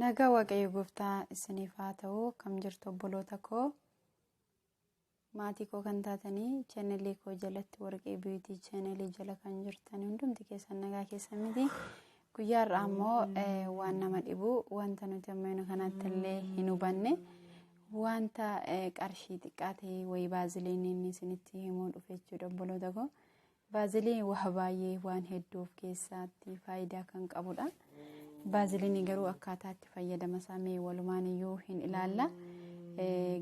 Nagaa waaqayyo gooftaa isiniif haa ta'u kam jirtu obboloota koo maatii koo kan taatanii chaanalii koo jalatti warqee biitii chaanalii jala kan jirtan hundumti keessan nagaa keessan miti guyyaa irraa ammoo waan nama dhibu wanta nuti ammayina kanatti illee hin hubanne wanta qarshii xiqqaa ta'e wayii baaziliiniin isinitti himuu dhufe jechuudha obboloota koo Baaziliin waa baay'ee waan hedduu of keessaatti faayidaa kan qabudha. Baaziliin garuu akkaataa itti fayyadama isaa mee walumaan iyyuu hin ilaalla.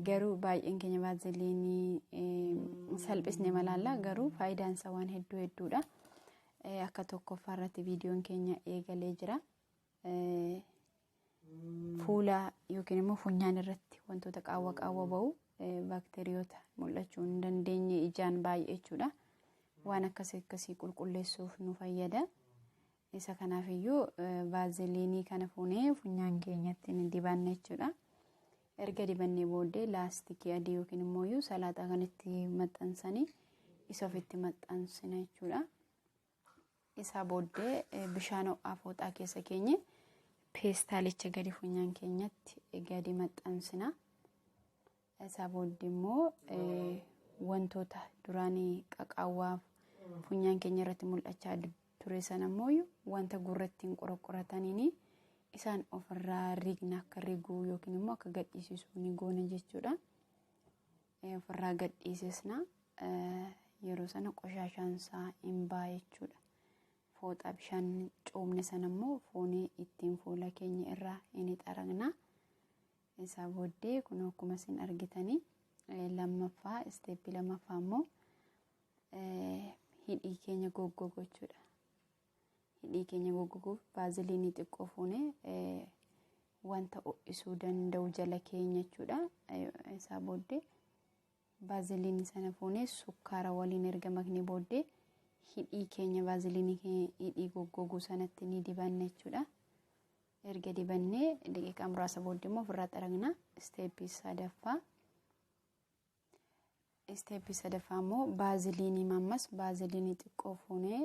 Garuu baay'een keenya baaziliinii salphisne malaalla garuu faayidaan isaa waan hedduu hedduudha. Akka tokkoffaa irratti viidiyoon keenya eegalee jira. fuula yookiin immoo funyaan irratti wantoota qaawwa qaawwa ba'u baakteeriyoota mul'achuu hin dandeenye ijaan baay'ee jechuudha. Waan akkasii akkasii qulqulleessuuf nu fayyada. Isa kanaaf iyyuu vaaziliinii kana fuunee funyaan keenyatti ni dibanna jechuudha. Erga dibannee booddee laastikii adii yookiin immoo salaaxaa kan itti maxxansanii isa ofitti maxxansina jechuudha. isaa booddee bishaan ho'aa fooxaa keessa keenye peestaalicha gadi funyaan keenyatti gadi maxxansina. Isaa booddee immoo wantoota duraanii qaqaawwaa funyaan keenya irratti mul'achaa ture sana immoo wanta gurrattiin qoraqqorataniin isaan ofirraa rigna akka riguu yookiin immoo akka gadhiisisu ni goona jechuudha. ofirraa gadhiisisna yeroo sana qoshaashaan isaa hin ba'a jechuudha. Fooxaa bishaan coomne sana immoo foonii ittiin fuula keenya irraa hin xaragna. Isaa booddee kun akkuma isin argitanii lammaffaa isteeppii lammaffaa immoo hidhii keenya goggogochuudha. hidhii keenya goggoguuf vaaziliinii xiqqoo fuune wanta ho'isuu danda'u jala keenya jechuudha. Isaa booddee vaaziliinii sana fuunee sukkaara waliin erga maknee booddee hidhii keenya vaaziliinii keenya hidhii goggoguu sanatti ni dibanna jechuudha. Erga dibannee daqiiqaa muraasa booddee immoo ofirraa xaragna. Isteeppii sadaffaa Isteeppii sadaffaa immoo baaziliinii mammas baaziliinii xiqqoo fuunee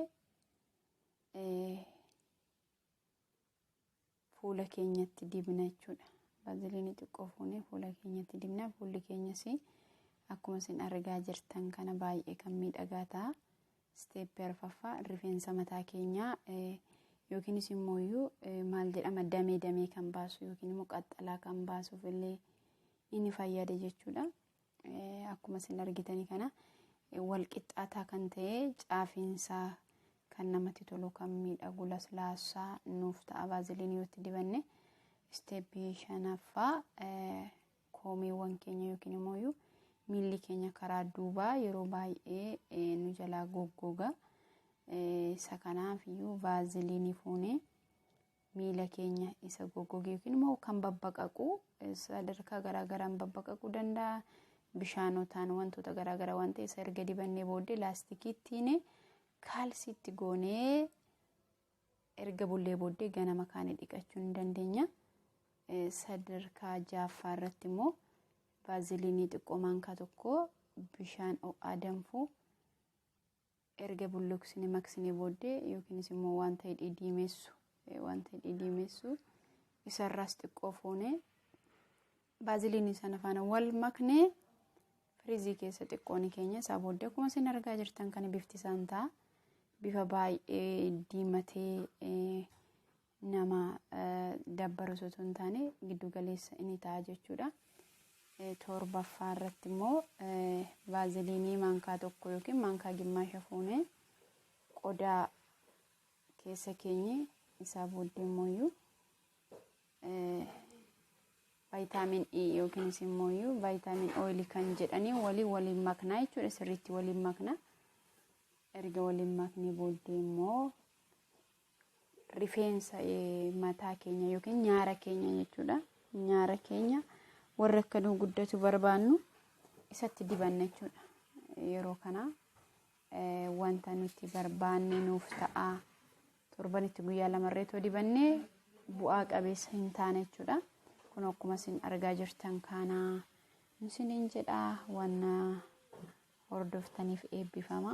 fuula keenyatti dibna jechuudha. Baaziliinii xiqqoo fuunee fuula keenyatti dibna fuulli keenyas akkuma isin argaa jirtan kana baay'ee kan miidhagaa ta'a. Isteeppii arfaffaa rifeensa mataa keenyaa yookiinis immoo maal jedhama damee damee kan baasu yookiin immoo qaxxalaa kan baasuuf illee Inni fayyade jechuudha. Akkuma isin argitani kana wal qixxaataa kan ta'e caafiinsaa kan namatti tolu kan miidhagu laslaasaa nuuf ta'a baaziliin yoo itti dibanne isteeppii shanaffaa koomeewwan keenya yookiin immoo miilli keenya karaa duubaa yeroo baay'ee nu jalaa goggoga isa kanaaf iyyuu baaziliinii fuunee miila keenya isa goggoge yookiin immoo kan babbaqaqu sadarkaa garaagaraan babbaqaquu danda'a. Bishaanotaan wantoota garaagaraa waan ta'e isa erga dibannee booddee laastikiittiin kaalsiitti goonee erga bullee booddee ganama kaane dhiqachuu ni dandeenya. Sadarkaa jaaffaa irratti immoo baaziliinii xiqqoo maankaa tokko bishaan ho'aa danfuu Erga bulluqsine maqsine booddee yookiinis immoo wanta hidhii diimeessu wanta hidhii diimeessu isarraas xiqqoo fuunee baaziliinii sana faana wal maknee firiizii keessa xiqqoo ni keenya isaa booddee akkuma isin argaa jirtan kana bifti isaan ta'a bifa baay'ee diimatee nama dabbarus utuu hin taane giddu galeessa inni ta'a jechuudha. Torbaffaa irratti immoo vaaziliinii maankaa tokko yookiin maankaa gimmaasha fuunee qodaa keessa keenye isaa booddee immoo vaayitaamin E yookiinis immoo vaayitaamin ooyilii kan jedhanii waliin waliin maknaa jechuudha sirriitti waliin makna erga waliin maknee booddee immoo rifeensa mataa keenya yookiin nyaara keenya jechuudha. Nyaara keenya warri akka nuu guddatu barbaannu isatti dibanna jechuudha. Yeroo kana wanta nuti barbaanne nuuf ta'a. Torbanitti guyyaa lamarree too dibannee bu'aa qabeessa hin taane jechuudha. Kun akkuma isin argaa jirtan kana isiniin jedha wanna hordoftaniif eebbifama.